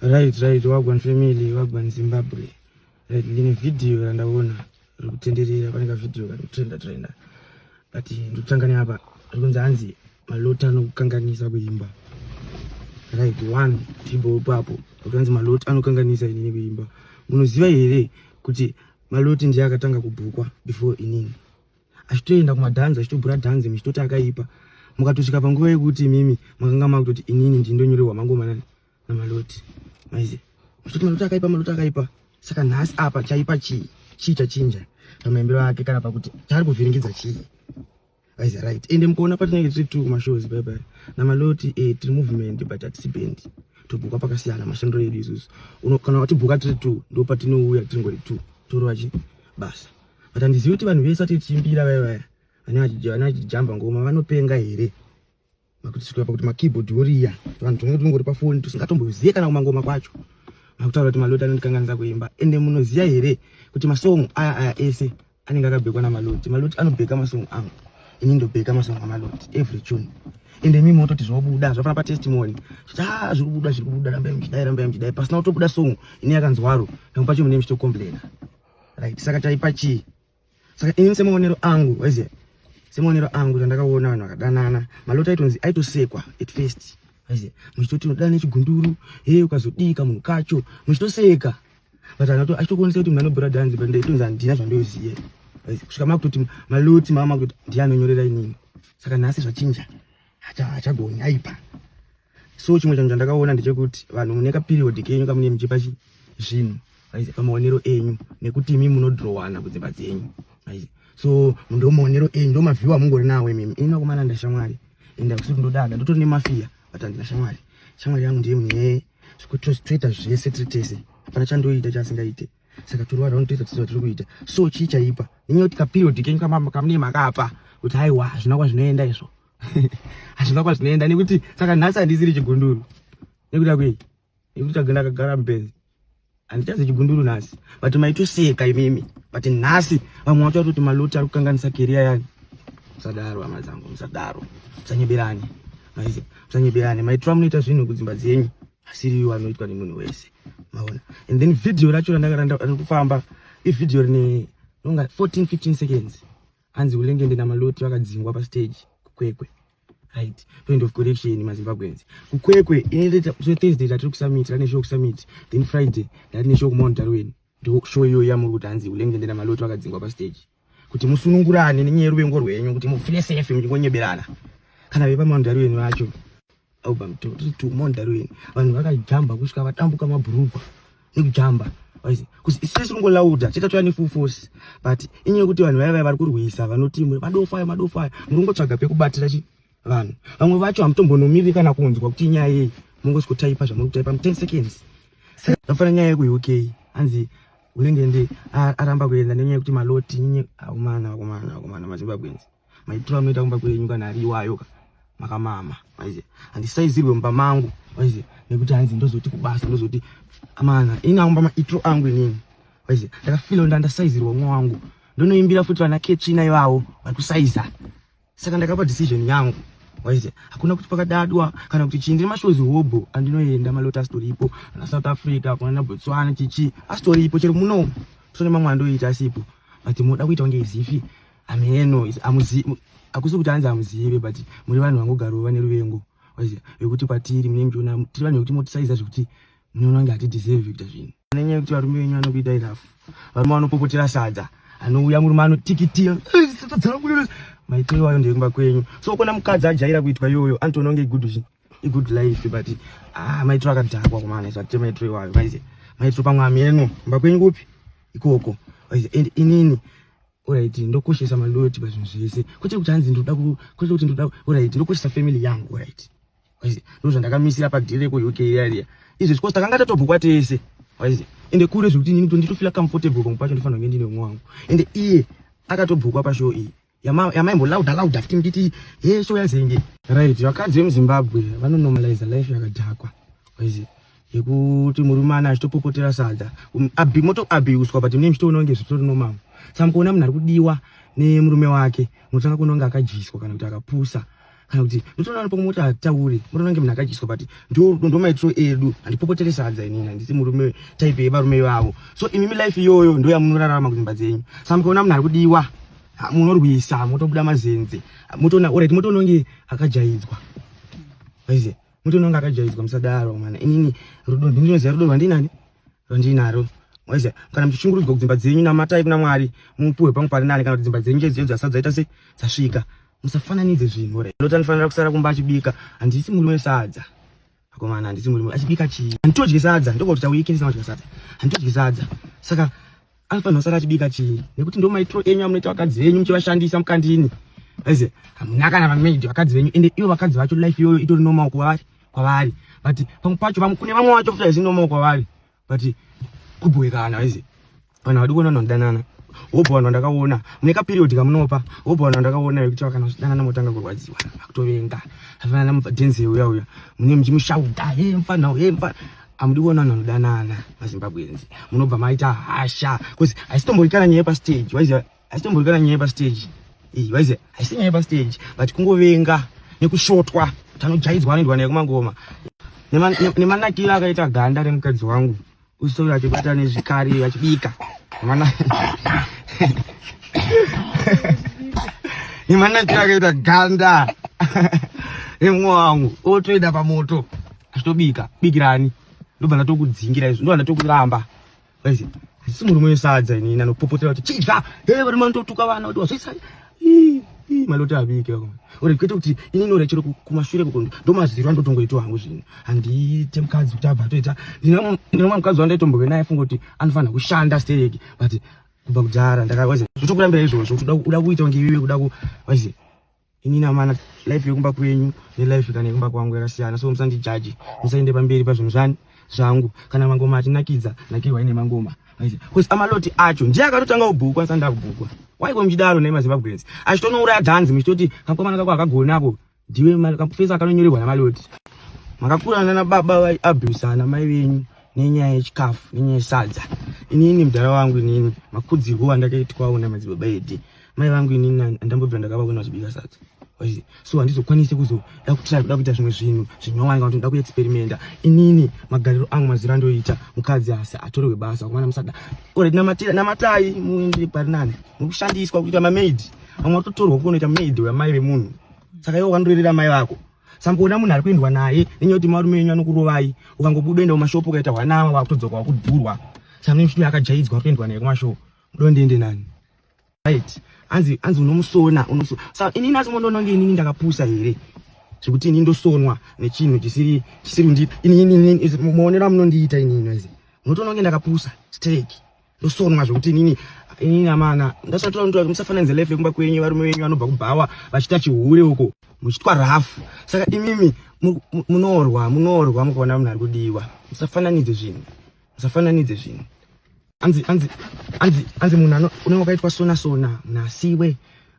right right wagwan family wagwan zimbabwe right ndine vhidhiyo randaona riri kutenderera pane kavhidhiyo kari kutrenda trenda but ndikutanga neapa ri kunzi hanzi malota anokukanganisa kuimba right one tibho ipapo akanzi maloti anokanganisa inini kuimba munoziva here kuti maloti ndiye akatanga kubhukwa before inini achitoenda kumadhanzi achitobhura dhanzi muchitoti akaipa mukatosvika panguva yekuti imimi makanga makutoti inini ndindonyorerwa mangomanani Maloti. Maize. Mashoti maloti akaipa maloti akaipa. Saka nhasi apa chaipa chii? Chii chachinja? Pamaimbiro ake kana pakuti chaari kuvhiringidza chii? Maize right. Ende mukuona patinenge tiri two mashows bye bye. Na maloti eh tiri movement but atisi band. Tobhuka pakasiyana mashandiro edu isusu. Kana watibhuka tiri two ndipo patinouya tiri ngori two. Torova chi basa. But handizivi kuti vanhu vese vatiri tichimbira vaya vaya. Vana vachijamba ngoma vanopenga here? makutisvika pakuti makeyboard oriya vanhu tinenge tinongori pafoni tisingatombozive kana kumangoma kwacho makutaura kuti maloti anondikanganisa kuimba ende munoziva here kuti masongo aya aya ese anenge akabhekwa namaloti maloti anobheka masongo angu ini ndobheka masongo amaloti every tune ende mimi mototi zvinobuda zvafana patestimony kuti a ah, zviri kubuda zviri kubuda rambai muchidai rambai muchidai pasina kutobuda songo ini yakanzwaro ndamupachomune muchitocomplaina right saka taipa chii saka ini semaonero angu waiziva semaonero angu zvandakaona vanhu vakadanana malota aitonzi aitosekwa at first waiziva muchitoti unodana nechigunduru hee ukazodii kamunhu kacho muchitoseka but achitokuonesa kuti munhu anobhura dhanzi but ndaitonzi handina zvandoziye kusvika makutoti maloti mama kutoti ndiye anonyorera inini saka nhasi zvachinja hachagoni aipa so chimwe chanhu chandakaona ndechekuti vanhu mune kaperiod kenyu kamune muchipa zvinhu pamaonero enyu nekuti imi munodrowana kudzimba dzenyu so ndomaonero enyu ndomavhiwa mungori nawo imimi ini nakomana ndashamwari enda kusuti ndodada ndotori nemafiya but handina shamwari shamwari yangu ndiye mune zvekutoita zvese tiri tese hapana chandoita chaasingaite saka tiri vanhu vanotoita tisina tiri kuita so chii chaipa inyaya kuti kaperiod kenyu kamune makapa kuti haiwa hazvina kwazvinoenda izvo hazvina kwazvinoenda nekuti saka nhasi handisiri chigunduru nekuda kwei nekuti tagenda kagara mubenzi handichazi chigunduru nhasi but maitoseka imimi but nhasi vamwe vacho vatoti maloti ari kukanganisa keriya yani musadaro hama dzangu musadaro musanyeberane maizi musanyeberane maitora munoita zvinhu kudzimba dzenyu asiri iwo anoitwa nemunhu wese maona and then video racho randakaranda kufamba ivideo rine nonga 14 15 seconds hanzi ulengende namaloti vakadzingwa pastage kukwekwe right point of correction mazimbabweans kukwekwe inoita so thursday tatiri kusummit rane show kusummit then friday ndarine show kumaundarweni ndo show iyoyo yamuri kuti hanzi ulengende namaloti vakadzingwa pastage kuti musunungurane nenyaya yeruvengo rwenyu kuti mufile safe muchingonyeberana kana vepamandari wenyu vacho album tiritu mandari wenyu vanhu vakajamba kusvika vatambuka mabhurugwa nekujamba sisi kungolauda chete toya nefull force but inyaya yekuti vanhu vaya vaya vari kurwisa vanoti madofayo madofayo muri kungotsvaga pekubatira chi vanhu vamwe vacho hamutombonomiri kana kunzwa kuti inyaya yei mongosvikotaipa zvamuri kutaipa mu 10 seconds afanira nyaya yeku uk hanzi Ulenge ndi aramba kuenda nenyaya yekuti maloti nyinyi akumana akumana akumana mazimbabwenzi maitiro anoita kumba kwenyu kana ari iwayo ka makamama maize handisaizirwe mumba mangu maize nekuti hanzi ndozoti kubasa ndozoti amana ini aumba maitiro angu inini maize ndakafilo ndandasaizirwa mwa wangu ndonoimbira futi vana ketsvina ivavo vari kusaiza saka ndakapa decision yangu waise hakuna kuti pakadadwa kana kuti chii ndine mashows hobho andinoenda malota asitoripo ana south africa kunana botswana chichi asitoripo chero muno tone mamwe andoita asipo but munoda kuita kunge izifi ameno akusi kuti anzi amuzive but muri vanhu vangogaro vane ruvengo waise vekuti kwatiri mune mchiona tiri vanhu vekuti motisaiza zvekuti munoona kunge hatideserve kuita zvinhu Nenyaya yekuti varume venyu vanokuitai rafu. Varume vanopopotera sadza. Anouya murume anotikitia. Eh, sadza dzangu lele. Maitiro iwayo ndekumba kwenyu. So kona mukadzi ajaira kuitwa iyoyo antoona kunge good zvi. Good life but ah maitiro akadhakwa kumana izvo atema maitiro iwayo. Maize. Maitiro pamwe ameno. Mba kwenyu kupi? Ikoko. Maize and inini alright ndokoshesa maloti pazvinhu zvese. Kwete kuti hanzi ndoda ku kwete kuti ndoda alright ndokoshesa family yangu alright. ndozvandakamisira padhiri rekuuk riya izvi because takanga tatobhukwa tese waizi ende kure zvekuti nini nditofila comfortable pamwe pacho ndifanira kunge ndine umwe wangu ende iye akatobhukwa pashow iyi yamaimbolaudha laudha futi nditi he show yazenge right vakadzi vemuzimbabwe vanonormaliza life yakadhakwa waizi yekuti murume ana achitopopotera sadza um, motoabiuswa but mune muchitoona kunge zvitori nomamo samukuona munhu ari kudiwa nemurume wake unotanga kunonge akadyiswa kana kuti akapusa kana kuti ndotoona nopo moti hatauri motoona kunge munhu akadyiswa but ndo maitiro edu handipopotere sadza inini handisi murume type yevarume ivavo so imimi life iyoyo ndo yamunorarama kudzimba dzenyu sa mukaona munhu ari kudiwa munorwisa motobuda mazenze motoona orit motoona kunge akajaidzwa aize motoona kunge akajaidzwa musadaro mana inini rudo ndinoziva rudo rwandinani rwandinaro waiziva kana muchichungurudzwa kudzimba dzenyu namatai kuna mwari mupuhwe pangu pari nani kana kuti dzimba dzenyu chaidzo chaidzo asadzaita se dzasvika musafananidze zvinhu right lota ndifanira kusara kumba achibika handisi murume wesadza akomana handisi murume achibika chii handitodye sadza ndokuti tauiki ndisina kudya sadza handitodye sadza saka anofanira kusara achibika chii nekuti ndo maitiro enyu amunoita vakadzi venyu muchivashandisa mukandini aize hamuna kana vamaidi vakadzi venyu ende ivo vakadzi vacho life iyoyo itori nomaoko kwavari kwavari but pamwe pacho kune vamwe vacho futi haizi nomaoko kwavari but kubhoikana izi vanhu vadi kuona vanodanana wobva vanhu vandakaona mune kaperiod kamunopa wobva vanhu vandakaona vekuti vakana zvidanana motanga kurwadziwa vakutovenga afanana mubvadenze uya uya mune muchimushauda he mfana he mfana amudi kuona vanhu vanodanana mazimbabwenzi munobva maita hasha bcause haisitomboikana nyaya pastage waiziva haitombovi kana nyaya yepasteji iyi vaize haisi nyaya yepasteji but kungovenga nekushotwa tanojaidzwa anoendwa naye kumangoma nemanakiro akaita ganda remukadzi wangu usitovi achibata nezvikari achibika nemanakiro akaita ganda remwe wangu otoenda pamoto achitobika bikirani ndobva ndatokudzingira izvo ndobva ndatokuramba Guys, ndisi murume wesadza ini nanopopotera kuti chidza hey vari mandotuka vana kuti wazvisa maloti abike ore kwete kuti ini nore chero kumashure kuko ndomaziro andotongoitwa hangu zvino handiite mukadzi kuti abva atoita ndinomwa mukadzi wandaitomboke naye funga kuti anofanira kushanda stereki but kubva kudhara ndakawaize zvotokurambira izvozvo uda kuita kunge iwewe kuda kuwaize ini namana life yekumba kwenyu nelife kana yekumba kwangu yakasiyana so musandijaji musaende pamberi pazvinhu zvani zvangu kana mangoma atinakidza nakirwa ine mangoma bcause amaloti acho ndiye akatotanga kubhukwa asanda kubhukwa waiko muchidaro nei mazimbabweans achitonouraya dhanzi muchitoti kakomana kako akagona ako ndiwe kafesa akanonyorerwa namaloti makakura nana baba vaiabhusana mai venyu nenyaya yechikafu nenyaya yesadza inini mudhara wangu inini makudzirwo andakaitwawo namadzibaba edi mai vangu inini andambobvira ndakava kuenda zvibika sadza so handizokwanise kuzoda kutira kuda kuita zvimwe zvinhu zvinyowani kana ndoda kuexperimenta inini magariro angu maziro andoita mukadzi asi atorerwe basa kumana musada oret namatai muendere pari nani mukushandiswa kuita mamaid vamwe vatotorwa kunoita maid wamai vemunhu saka iwo ukandirerera mai vako samboona munhu ari kuendwa naye nenyaya yekuti marume enyu anokurovai ukangobuda enda kumashopo ukaita hwanama vakutodzoka wakudhurwa samne mshumi akajaidzwa ari kuendwa naye kumashopo dondiende nani right anzi anzi unomusona unosona sa ini nasi mondononge inini ndakapusa here zvekuti ini ndosonwa nechinhu chisiri chisiri ndi ini ini muonero amunondiita ini ino izi munotononge ndakapusa straight ndosonwa zvekuti inini inini amana ndasatoa mtu musafananidze life yekumba kwenyu varume venyu vanobva kubhawa vachita chihure uko muchitwa rafu saka imimi munorwa munorwa mukaona munhu ari kudiwa musafananidze zvinhu musafananidze zvinhu anzi anzi anzi anzi munhu unenge wakaitwa sona sona munhu asiwe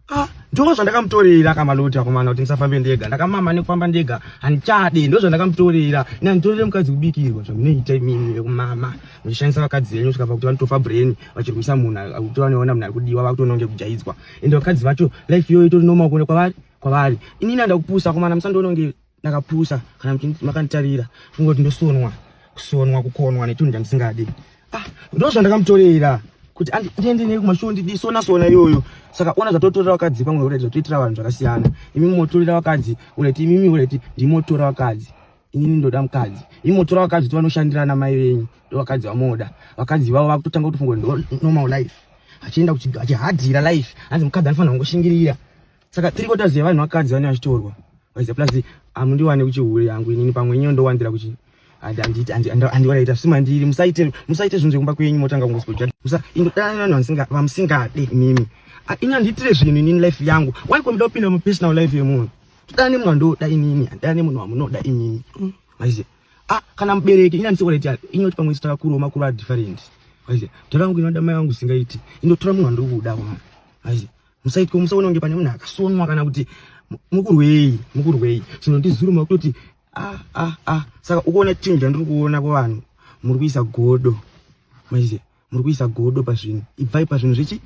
ah, ndoo zvandakamutorera kamaloti akomana kuti ndisafambe ndega ndakamama nekufamba ndega handichade ndo zvandakamutorera ina nditorere mukadzi kubikirwa zvamunoita imimi vekumama muchishandisa vakadzi venyu kusvika pakuti vanotofa brain vachirwisa munhu akuti vanoona munhu ari kudiwa vakutononge kujaidzwa ende vakadzi vacho life iyoyo itori nomakuona kwavari kwavari inini andakupusa akomana musandiononge ndakapusa kana kuti makanditarira funga kuti ndosonwa kusonwa kukonwa netunhu chandisingadi ah, ndo zvandakamutorera kuti ndiende nei kumashow ndidisona sona iyoyo saka ona zvatotorera vakadzi pamwe ureti zvatoitira vanhu zvakasiyana imi motorera vakadzi ureti imimi ureti ndimotora vakadzi inini ndoda mukadzi imi motora vakadzi kuti vanoshandirana mai venyu ndo vakadzi vamoda vakadzi vavo vakutotanga kutofunga kuti ndo normal life achienda achihadhira life hanzi mukadzi anofanira kungoshingirira saka three quarters yevanhu vakadzi vane vachitorwa vaiza plus amundiwane kuchihure yangu inini pamwe inyo ndowanzira kuchi andiwaraita sima ndiri musaite musaite zvinhu zvekumba kwenyu motanga kungospojaa musa ingodana vanhu vanisinga vamusingade mimi ini andiitire zvinhu inini life yangu why komda kupinda mupersonal life yemunhu todana nemunhu andoda inini andidana nemunhu wamunoda inini mm. maiziva ah kana mubereki ini andisiwaraiti inoti pamwe sitaka kuro makuru adifferent maiziva toda vangu inoda mai vangu singaiti indotora munhu andiri kuda mwana maiziva musaitwe musaona kunge pane munhu akasonwa kana kuti mukurwei mukurwei chinondizuruma kutoti ah ah ah saka ukuona chinhu chandiri kuona kuvanhu muri kuisa godo maiziva muri kuisa godo pazvinhu ibvai pazvinhu zvechi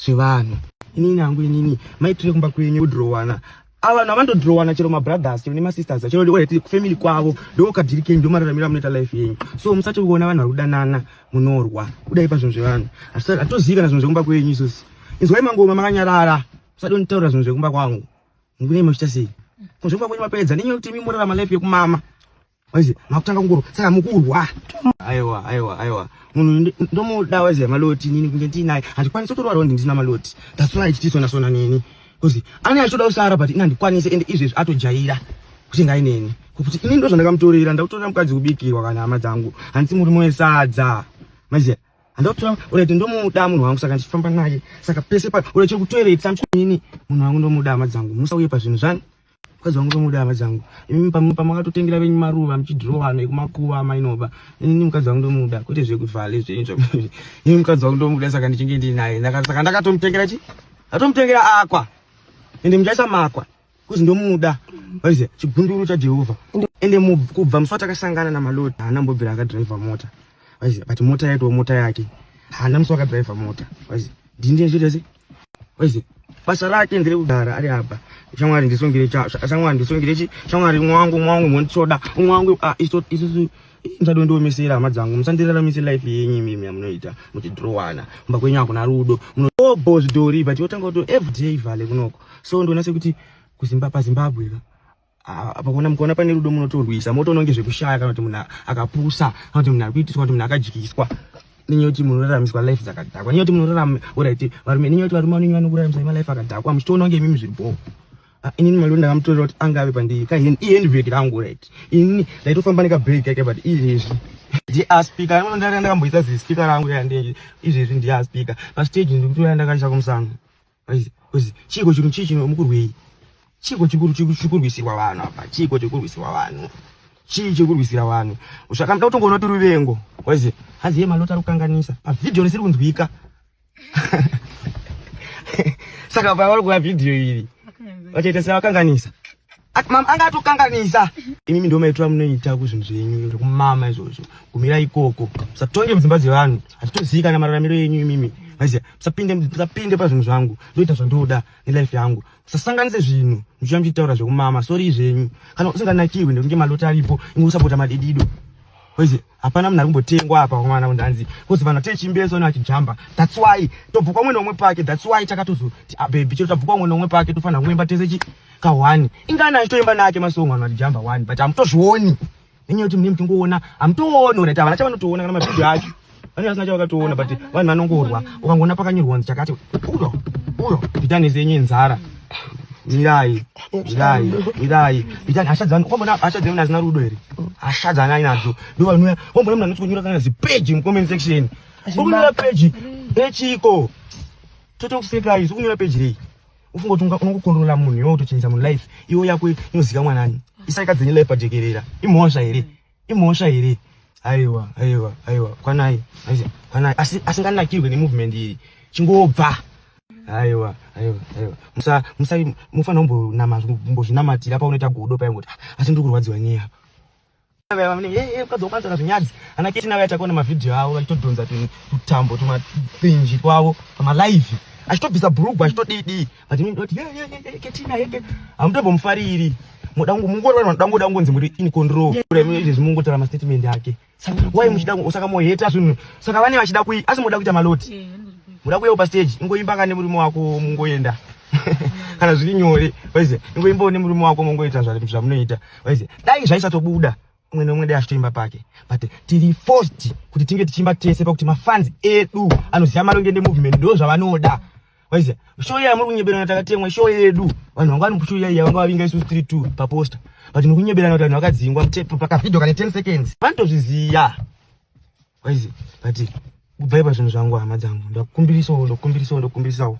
zvevanhu inini hangu inini maitire kumba kwenyu kudhirowana ava vanhu havandodrowana chero mabrothers chero nemasisters chero orati kufamily kwavo ndokadhiri kenyu ndomararamira munoita life yenyu so musati kuona vanhu vari kudanana munorwa kudai pazvinhu zvevanhu hatozivi kana zvinhu zvekumba kwenyu isosi inzwai mangoma makanyarara musati nditaura zvinhu zvekumba kwangu mukunei makuita sei kunzvekumba kwenyu mapedza nenyaya yekuti imi morarama life yekumama Waize makutanga kungoro saka mukurwa. Aiwa aiwa aiwa. Munhu ndomuda waize maloti nini kunge ndinaye. Handikwanisi kutorwa rondi ndina maloti. That's why tichisona sona nini. Kuzi ani achoda usara but inandikwanise and izvezvi atojaira kuti ngai neni. Kuti ini ndo zvandakamutorera ndakutorera mukadzi kubikirwa kana hama dzangu. Handisi muri moyo sadza. Maize handotora urete ndomuda munhu wangu saka ndichifamba naye saka pese pa urete kutoiretsa nini munhu wangu ndomuda hama dzangu musauye pazvinhu zvani mukadzi wangu ndomuda hama dzangu imi pamakatotengera venyu maruva muchidhirowa nekumakuva amainoba inini mukadzi wangu ndomuda kwete zvekuvhale zvenyu imi mukadzi wangu ndomuda saka ndichinge ndinaye saka ndakatomutengera chi ndatomutengera akwa ende muchaisa makwa kuzi ndomuda vaize chigunduru chajehovha ende kubva musi watakasangana namalodi haana mbobvira akadhiraivha mota vaize but mota yaitoo mota yake haana musi wakadhiraivha mota vaize ndini ndiyezvirese Wese basa rake ndiri kugara ari apa shamwari ndisungire shamwari ndisungire chi shamwari mwangu mwangu mwandisoda mwangu ah, isu isu ndado ndiomisira hama dzangu musandiraramise life yenyu imimi yamunoita muchidhirowana kumba kwenyu hakuna rudo munobo zvidhori but yotanga kuto everyday vale kunoko so ndona sekuti kuzimbapa zimbabwe ka Ah, apa kuona mukaona pane rudo munotorwisa motoona kunge zvekushaya kana kuti munhu akapusa kana kuti munhu ari kuitiswa kana kuti munhu akadyiswa nenye kuti munoraramiswa life dzakadhakwa nenye kuti munorarama orit varume nenye kuti varume vanenye vanokuraramisai malife akadhakwa muchitoona kunge imimi zviri bhoo ah, inini maliro ndakamutorera kuti anga ave pandiri kaheni ihandbrek rangu orit inini ndaitofamba nekabreak kake but izvezvi ndiaspika ndakamboisa zispika rangu yandenge izvezvi ndiaspika pastage ndikutoya ndakaisa kumusana chiiko chinhu chii chino mukurwei chiiko chikurwisirwa vanhu apa chiiko chikurwisirwa vanhu chii chikurwisira vanhu zvakamda kutongoona tiri vengo waizi hanzi ye malota ari kukanganisa pavhidhiyo risiri kunzwika saka pavari kuona vhidhiyo iri vachaita sevakanganisa Mama anga atokanganisa. Imimi ndio maitwa munoita ku zvinhu zvenyu zvekumama izvozvo. Kumira ikoko. Musatonge mudzimba dzevanhu. Hatitozika na mararamiro yenyu imimi. Maiziya, musapinde musapinde pa zvinhu zvangu. Ndoita zvandoda ne life yangu. Musasanganise zvinhu. Muchiya muchitaura zvekumama. Sorry zvenyu. Kana usinganakiwi ndokunge malota aripo. Ingo usapota madidido. Maiziya. hapana munhu ari kumbotengwa apa komana kundanzi kuzi vanhu atee chimbeso ne vachijamba thats why tobvukwa umwe neumwe pake thats why takatozoti ah, bebi chero tabvukwa umwe neumwe pake tofanira kuemba tese chi kahwani ingani achitoemba nake masongo vanhu vachijamba wani but hamutozvioni nenyaya yekuti mune muchingoona hamutooni ora ti havana chavanotoona kana mabhidhi acho vane vasina chavakatoona but vanhu vanongorwa ukangoona pakanyorwa nzi chakati uyo uyo ita nezenyu inzara mirai mirai mirai itani hasha dzanu wambona hasha dzanu nazina rudo here hasha dzana inadzo ndovanuya wambona munhu anotikunyora kana zipeji mucomment section ukunyora peji echiko totokusekai zvokunyora peji rei ufunga kuti unokukondorola munhu iwe utochinjisa munhu life iwe yako inozikamwa nani isaikadzenye life pajekerera imhosva here imhosva here aiwa aiwa aiwa kwanai kwanai asi asinganakirwe nemovement iyi chingobva aiwa aiwa aiwa musa musa mufana umbonama umbozvinamatira paunoita godo paya ngoti ah, asi ndiri kurwadziwa nyei apa ukadzokuanzaka zvinyadzi ana keti navo yatakuona mavhidhiyo avo vachitodhonza tutambo tumathinji twavo pamalive achitobvisa bhurugwa achitodii dii but ini ndoti ye ye ye ketina ye amutombo mufariri muda kungu mungu rwa muda ngoda ngonzi muri in control kule mu izvi mungu tara ma statement yake why muchida usaka mo hate asu saka vane vachida kui asi muda kuita maloti muda kuya pa stage ingoimba kane muri mwako mungoenda kana zviri nyore waize ingoimba ne muri mwako mungoita zvamunoita waize dai zvaisatobuda umwe neumwe dai achitoimba pake but tiri forced kuti tinge tichiimba tese pakuti mafans edu anoziva malongende movement ndo zvavanoda waiziva show iya yamuri kunyeberana takatemwa show yedu vanhu vanga vanoshow iya iya vanga vavinga isusu tiri two paposta but muri kunyeberana kuti vanhu vakadzingwa mutepu pakavideo kane ten seconds vanotozviziva waiziva but kubvai pazvinhu zvangu hama dzangu ndakukumbirisawo ndokukumbirisawo ndokukumbirisawo